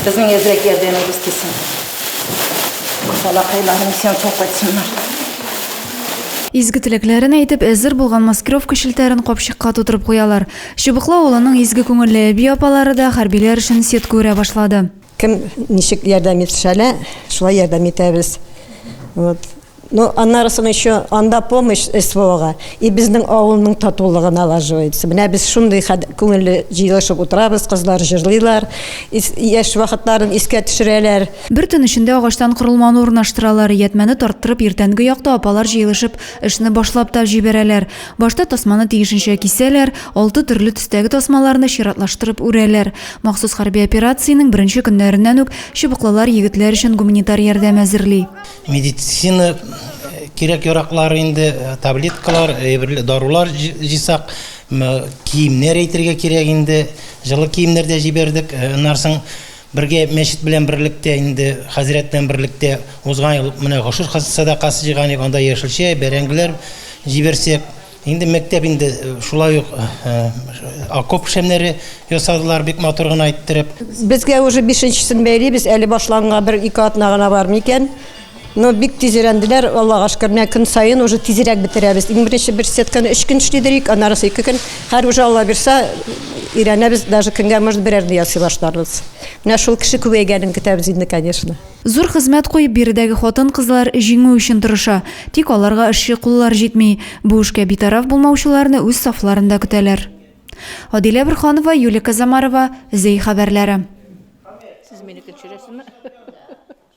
Безнең әзрәк ярдәмебез тисен. Балакайларым исән сау кайтсыннар. Изге теләкләрен әйтеп, әзер булган маскировка челтәрен капчыкка тутырып куялар. Чыбыклы авылының изге күңелле әби-апалары да хәрбиләр өчен сетка үрә башлады. Кем ничек ярдәм итешә лә, шулай ярдәм итәбез. Вот. Ну, аннарысын еще анда помощь СВОга и безнең авылның татулыгы налаживается. Менә без шундый күңелле җыелышып утырабыз, кызлар җырлыйлар, яшь вакытларын искә төшерәләр. Бер төн эчендә агачтан корылманы урнаштыралар, иятмәне тарттырып, иртәнге якта апалар җыелышып, эшне башлап та җибәрәләр. Башта тасманы тиешенчә кисәләр, алты төрле төстәге тасмаларны чиратлаштырып үрәләр. Махсус хәрби операциянең беренче көннәреннән үк чыбыклылар егетләр өчен гуманитар ярдәм әзерли. Медицина кирәк-яраклар инде, таблеткалар, әйберләр, дарулар җыйсак, киемнәр әйтергә кирәк инде. Җылы киемнәр дә җибәрдек. Аннан соң бергә мәчет белән берлектә инде хәзрәт белән берлектә узган ел менә гошер сәдакасы җыйган идек, анда яшелчә, бәрәңгеләр җибәрсәк, Инде мәктәп инде шулай ук окоп шәмнәре ясадылар, бик матур гына иттереп. Безгә уже бишенчесен бәйлибез, әле башланганга бер-ике атна гына бар микән. Но бик тиз өйрәнделәр, Аллага шөкер. Менә көн саен уже тизрәк бетерәбез. Иң беренче бер сетканы өч көн эшли идек, аннарысы ике көн. Хәзер уже Алла бирса, өйрәнәбез, даже көнгә может берәрне ясый башларбыз. Менә шул кеше күбәйгәнен көтәбез инде, конечно. Зур хезмәт куеп, биредәге хатын-кызлар җиңү өчен тырыша. Тик аларга эшче куллар җитми. Бу эшкә битараф булмаучыларны үз сафларында көтәләр. Адилә Борханова, Юлия Казамарова, Зәй хәбәрләре.